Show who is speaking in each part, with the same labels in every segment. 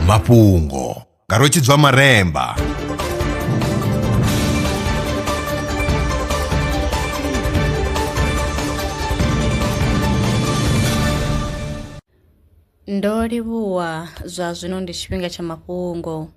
Speaker 1: mafhungo nga rwetshidzwa maremba Ndo livhuwa zwa zwino ndi tshifhinga tsha mafhungo.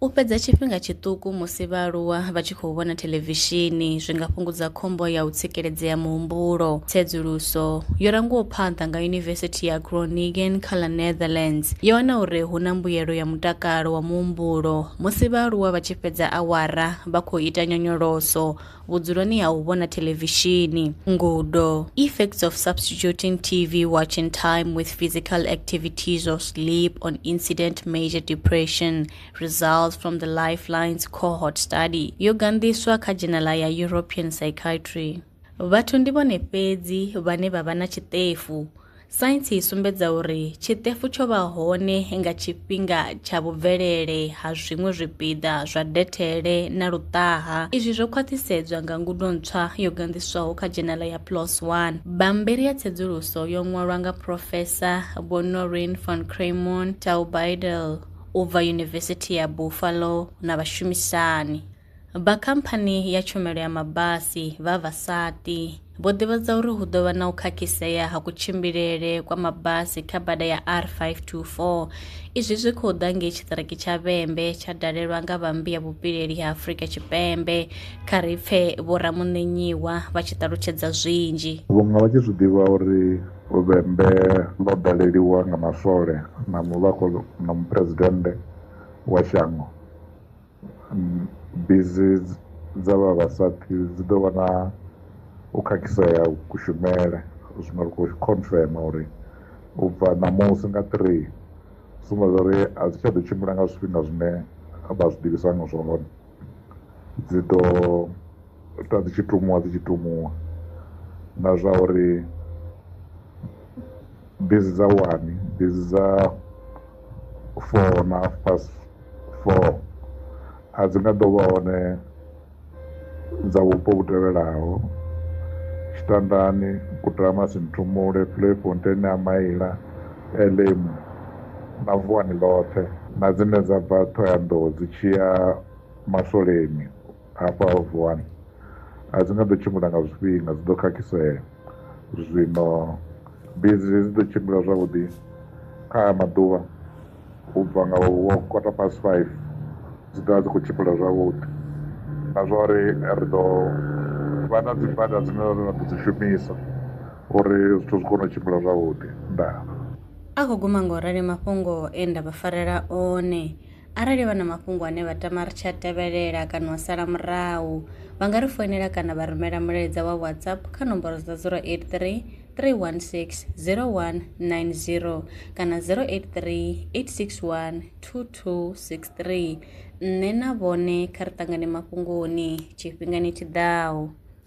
Speaker 1: U fhedza tshifhinga tshiṱuku musi vhaaluwa vha tshi khou vhona theḽevishini zwi nga fhungudza khombo ya u tsikeledzea muhumbulo. Tsedzuluso yo rangiwaho phanḓa nga Yunivesithi ya Groningen kha ḽa Netherlands yo wana uri hu na mbuyelo ya mutakalo wa muhumbulo musi vhaaluwa vha tshi fhedza awara vha khou ita nyonyoloso vhudzuloni ha u vhona thelevishini, ngudo, effects of substituting TV watching time with physical activities or sleep on incident major depression, results from the Lifelines cohort study, yo ganḓiswa kha dzhenala ya European Psychiatry. Vhathu ndi vhone fhedzi vhane vha vha na tshiṱefu Saintsi i sumbedza uri tshiṱefu tsho vha hone nga tshifhinga tsha vhubvelele ha zwiṅwe zwipiḓa zwa dethele na luṱaha. Izwi zwo khwaṱhisedzwa nga ngudo ntswa yo ganḓiswaho kha dzhenala ya PLOS 1. Bammbiri ya tsedzuluso yo ṅwalwa nga Profesa Vho Noreen von Craimon Taubeidel u bva Yunivesithi ya Buffalo na vhashumisani. Vha khamphani ya tshumelo ya mabasi vha Vasati vho ḓivhadza uri hu ḓo vha na u khakhisea ha kutshimbilele kwa mabasi kha bada ya R524. Izwi zwi khou ḓa ngei tshiṱiriki tsha Vhembe tsha dalelwa nga vhambi ya vhupileli ha Afrika Tshipembe. Kha ri pfe vho Ramuṋenyiwa vha tshi ṱalutshedza zwinzhi. Vhunga vha tshi zwi ḓivha uri Vhembe ḽo daleliwa nga maswole na muvhako na muphuresidennde wa shango. Bisi dza vha vha sa pfhi dzi ḓo vha na u khakhisea kushumele zwino ri khou confirm uri u bva ṋamusi nga three zwine zwa uri a dzi tsha ḓo tshimbila nga zwifhinga zwine vha zwi ḓivhisa nga zwone dzi ḓo ita dzi tshi tumuwa dzi tshi tumuwa na zwa uri. bisi dza wani bisi dza four na half past four a dzi nga ḓo vha hone dza vhupo vhu tevhelaho tshitandani kutama sinthumule playfontein a maila elemu na vuwani ḽoṱhe na dzine dza bva ṱhoyandou dzi tshiya maswoleni hafha vuwani a dzi nga ḓo tshimbila nga zwifhinga dzi ḓo khakhisea zwino bizi dzi ḓo tshimbila zwavhuḓi kha aya maḓuvha u bva nga wo kota past five dzi ḓovha dzi khou tshimbila zwavhuḓi na zwa uri ri ḓo vha na dzi bada dzine ra ḓo dzi shumisa uri zwithu zwi kone u tshimbila zwavhuḓi ndaa a khou guma ngo rali mafhungo e nda vha farela one Arali vha na mafhungo ane vha tama ri tsha tevhelela kana wa sala murahu, vha nga ri foinela kana vha rumela mulaedza wa WhatsApp kha nomboro dza 083 316 0190 kana 083 861 2263. Nṋe na vhone kha ri ṱangane mafhungoni tshifhingani tshi ḓaho.